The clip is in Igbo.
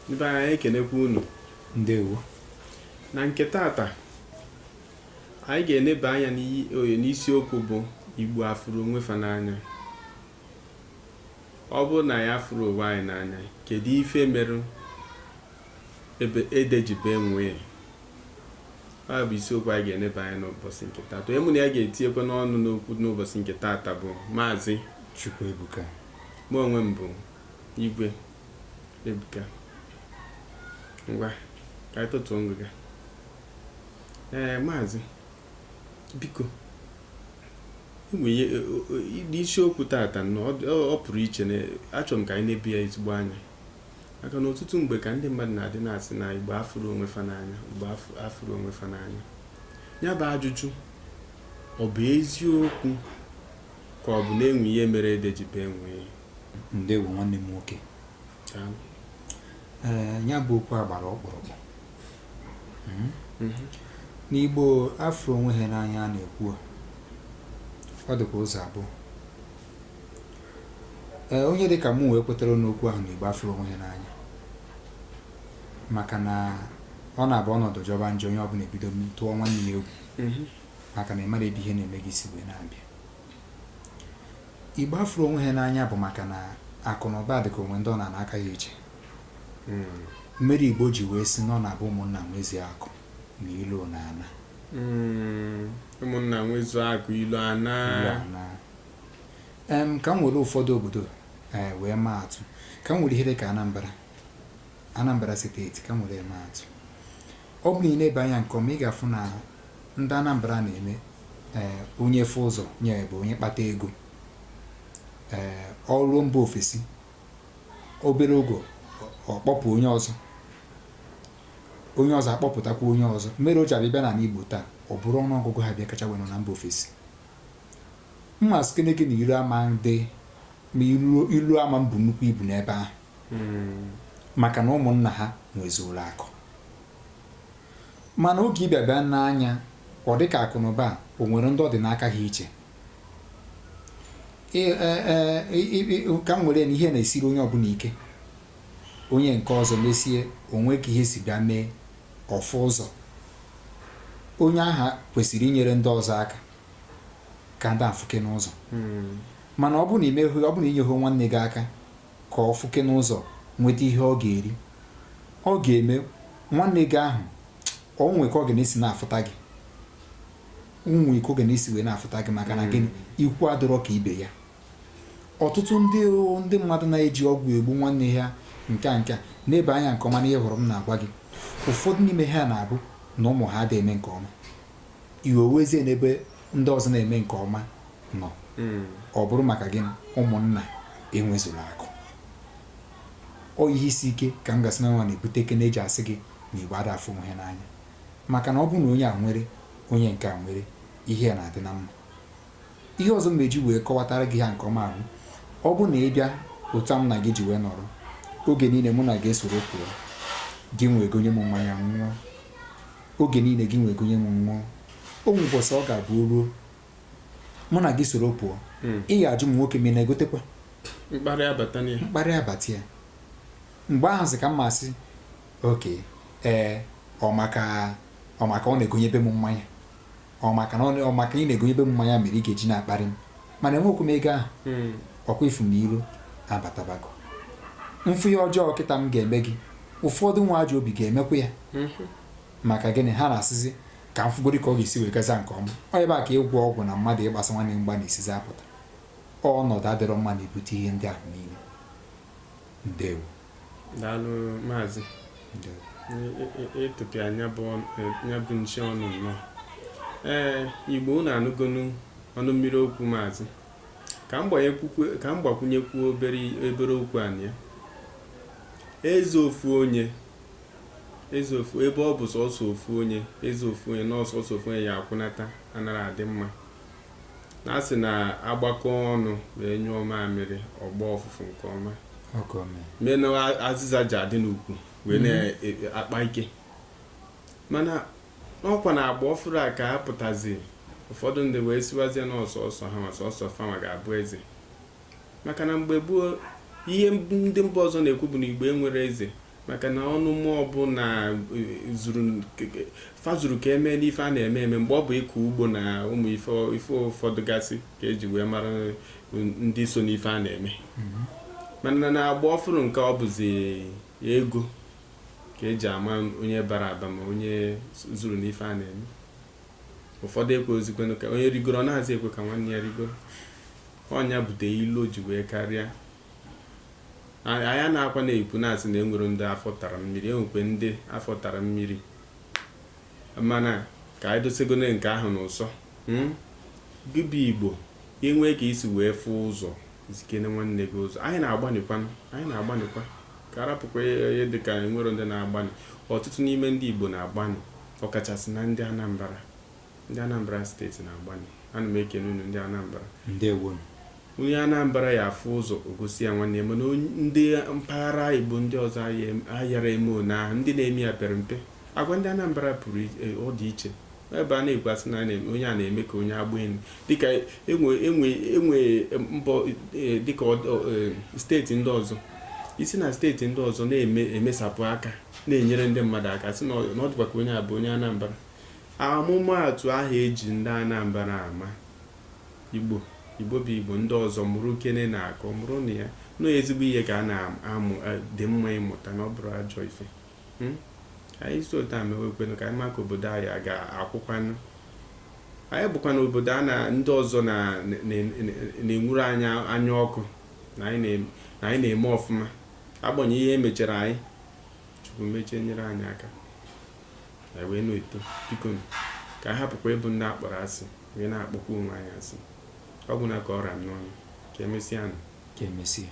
Ndị be anyị ekenekwa unu ndewo na nke tata anyị ga-eneba anya n'oye n'isiokwu bụ Igbo afụrọ onwe fa n'anya ọ bụrụ na anyị afụrọ onwe anyị n'anya kedu ife merụ ede ji bee nwii ya bụ isiokwu anyị ga-eneba anya n'ụbọchị nke tata onye mụ na ya ga-etinyekwa n'ọnụ n'okwu n'ụbọchị nke tata bụ maazị Chukwuebuka mụ onwe m bụ Igwe ebuka ngwa ka anyị tọtuo ngịga ee maazị biko isiokwu tata na ọ pụrụ iche na achọrọ m ka anyị nebe ya ezigbo anya maka na ọtụtụ mgbe ka ndị mmadụ na-adị na-asị na Igbo afụrọ onwe fa n'anya Igbo afụrọ onwe fa n'anya ya bụ ajụjụ ọ bụ eziokwu ka ọ bụ na e nwere ihe mere ede ji bee nwii Ndewo nwanne m nwoke. Ee, ya bụ okwu a gbara ọkpụrụkpụ. Hmm? Mhm. Na Igbo afụrọ onwe ha n'anya a na-ekwu ọ dịkwa ụzọ abụọ. Ee, onye dị ka mụnwa kwetara n'okwu ahụ na Igbo afụrọ onwe ha n'anya maka na ọ na-abụ ọnọdụ jọba njọ onye ọbụla ebido tụọ nwanne ya egwu mhm. maka na ị marọ ebe ihe na-eme gị si wee na-abịa Igbo afụrọ onwe ha n'anya bụ maka na akụ na ụba dịka o nwere ndị ọ nọ n'aka ha iche mere Igbo ji wee sị na ọ na-abụ ụmụnna nwezu akụ na ilo na-ana hmm, ụmụnna nwezu akụ ilo ana ka m were ụfọdụ obodo eh, wee maa atụ ka m were ihe dị ka Anambra Anambra steeti ka m were maa atụ Ọ bụrụ na ị nebe anya nke ọma ị ga-afụ na ndị Anambra na-eme ee onye fụ ụzọ nye ebe onye kpata ego ee o ruo mba ofesi obere oge ọ kpọpụ onye ọzọ onye ọzọ akpọpụtakwa onye ọzọ mere o ji abịa bịa n'ala Igbo taa ọ bụrụ ọnụ ọgụgụ ha bịa kacha wenụ na mba ofesi m ma sịkene gị na iro ama adị ma ilo ama ebu nnukwu ibu n'ebe ahụ hmm. maka na ụmụnna ha nwezuola akụ mana oge ị bịa bịa nee anya ọ dị ka akụnụba o nwere ndị ọ dị n'aka ha iche e, e, e, ka m were na ihe na-esiri onye ọbụla ike onye nke ọzọ mesie o nwee ka ihe si bịa mee ọ fụ ụzọ onye ahụ kwesịrị inyere ndị ọzọ aka ka ndị a fụkene ụzọ hmm. mana ọ bụ na i meghị ọ bụ na i nyeghị nwanne gị aka ka ọ fụkene ụzọ nweta ihe ọ ga-eri, ọ ga-eme nwanne gị ahụ o nwee ka ọ ga na-esi na-afụta gị nwee ka ọ ga na-esi wee na-afụta gị maka na gịnị ikwu adịrọ ka ibe ya ọtụtụ ndị ndị mmadụ na-eji ọgwụ egbu nwanne ha nke a nke a nebe anya nke ọma n'ihe ahụ m na-agwa gị ụfọdụ n'ime ha na-abụ na ụmụ ha ada eme nke ọma iwe ewezie n'ebe ndị ọzọ na-eme nke ọma nọ hmm. ọ bụrụ maka gị ụmụnna enwezula akụ ọ ihe isi ike ka m gasị na nwa na-ebute ka a na-eji asị gị na igbo ada afụ onwe ha n'anya maka na ọ bụrụ na onye a nwere onye nke a nwere ihe ya na-adị na mma ihe ọzọ m na-eji wee kọwatara gị ha nke ọma ahụ ọ bụ na ị bịa otu a m na gị ji wee nọrọ oge niile mụ na gị esoro pụọ gị nwa egonye m mmanya m ṅụọ Oge niile gị nwa egonye m ṅụọ. O nwee ụbọchị ọ ga-abụ o ruo. Mụ na gị soro pụọ. Hmm. Ị ya ajụ m nwoke m ị na-egotekwa. Mkparị abata ya. Mkparị abata ya. Mgbe ahụzi ka m ma-asị okay ee ọ maka ọ maka ọ na-egonyebe m mmanya. ọ maka na ọ maka ị na-egonyebe m mmanya mere ị ga-eji na-akparị m mana enwekwu m ego ahụ hmm. ọkwa ị fụ na iro abatabago m fụ ihe ọjọọ kịta m ga-eme gị ụfọdụ nwee ajọ obi ga-emekwa ya hmm. maka gịnị ha na-asịzi ka m fụgodi ka ọ ga-esi wee gaza nke ọma ọ ebe a ka ịgwọ ọgwụ na mmadụ ịgbasa nwanne mgba na-esizi apụta ọnọdụ adịrọ mma na-ebute ihe ndị ahụ niile ndewo daalụ maazị ịtụpịa e, e, e, ya bụ nche ọnụ nnọọ ee igbo unu anụgonu ọnụ mmiri okwu maazị ka m gbakwunyekwuo obere obere okwu anyị a eze ofu onye eze ofu ebe ọ bụ sọsọ ofu onye eze ofu onye na ọ sọsọ ofu onye ya akwụnata anara adị mma na a sị na a gbakọọ ọnụ ma e nyụọ mamịrị ọ gbọọ ọfụfụ nke ọma mee na azịza ja-adị n'ukwu wee mhm. na-akpa e, e, ike mana ọkwa na agba ọfụrụ a ka apụtazi ụfọdụ ndị wee sịwazie na ọ sọsọ ha nwa sọsọ fa nwa ga-abụ eze Maka na mgbe gboo, ihe ndị mba ọzọ na-ekwu bụ na Igbo enwero eze maka na ọnụ ama ọbụna fa zuru ka e mee n'ife a na-eme eme mgbe ọ bụ ịkọ ugbo na ụmụ ife ụfọdụ gasị ka eji wee mara ndị so n'ife a na-eme mm-hmm. mana na agba ọfụrụ nke ọ bụzi ego ka eji ama onye bara aba ma onye zuru n'ife a na-eme ụfọdụ ekweghịzikwenụ ka onye rigoro ọ nazị ekwe ka nwanne ya rigoro ọ ya butelu o ji wee karịa A- anyị nọkwa na-ekwu na-asị na enwere ndị afọ tara mmiri enwekwa ndị afọ tara mmiri mana ka anyị dosegone nke ahụ n'ụsọ mm? gị bụ igbo i nwee ka i si wee fụ ụzọ zikene nwanne gị ụzọ anyị na-agbanịkwanụ anyị na-agbanịkwa ka arapụkwa ihe dịka enwero ndị na-agbanị ọtụtụ n'ime ndị igbo na-agbanị ọkachasị na ndị Anambra ndị Anambra steeti na-agbanị ana m ekene unu ndị Anambra ndewo onye Anambra ya afụ ụzọ o gosi ya nwanne ya mana ndị mpaghara Igbo ndị ọzọ ayara eme one ahụ ndị na-eme ya pere mpe agwa ndị Anambra pụrụ e, ọ dị iche ebe a na-ekwu asị na onye a na-eme ka onye agbaenu dịka enwe e e mbọ e, dịka steeti ndị ọzọ i si na steeti ndị ọzọ na-emesapụ aka na-enyere ndị mmadụ aka sị na ọ dịkwa ka onye a bụ onye Anambra amụmaatụ ahụ eji ndị Anambra ama Igbo Igbo bụ Igbo ndị ọzọ mụrụkenenụ akọ mụrụnụ ya na ọ ezigbo ihe ka a na-amụ e, dị mma ịmụta na ọ bụrọ ajọ ife hmm? anyị si otu a mewekwenu ka anyị maka obodo anyị a ga-akwụkwanụ anyị bụkwa na obodo a na ndị ọzọ na-enwuru anyị anya ọkụ na anyị na-eme ọfụma agbanyeghị ihe emechara anyị chukwu mechie nyere anyị aka anyị wee na-eto biko ka a hapụkwa ịbụ ndị akpọrọ asị wee na-akpọkwa onwe anyị asị ọ gwụna ka ọ ra m n'ọnụ ka emesịa nụ ka emesịa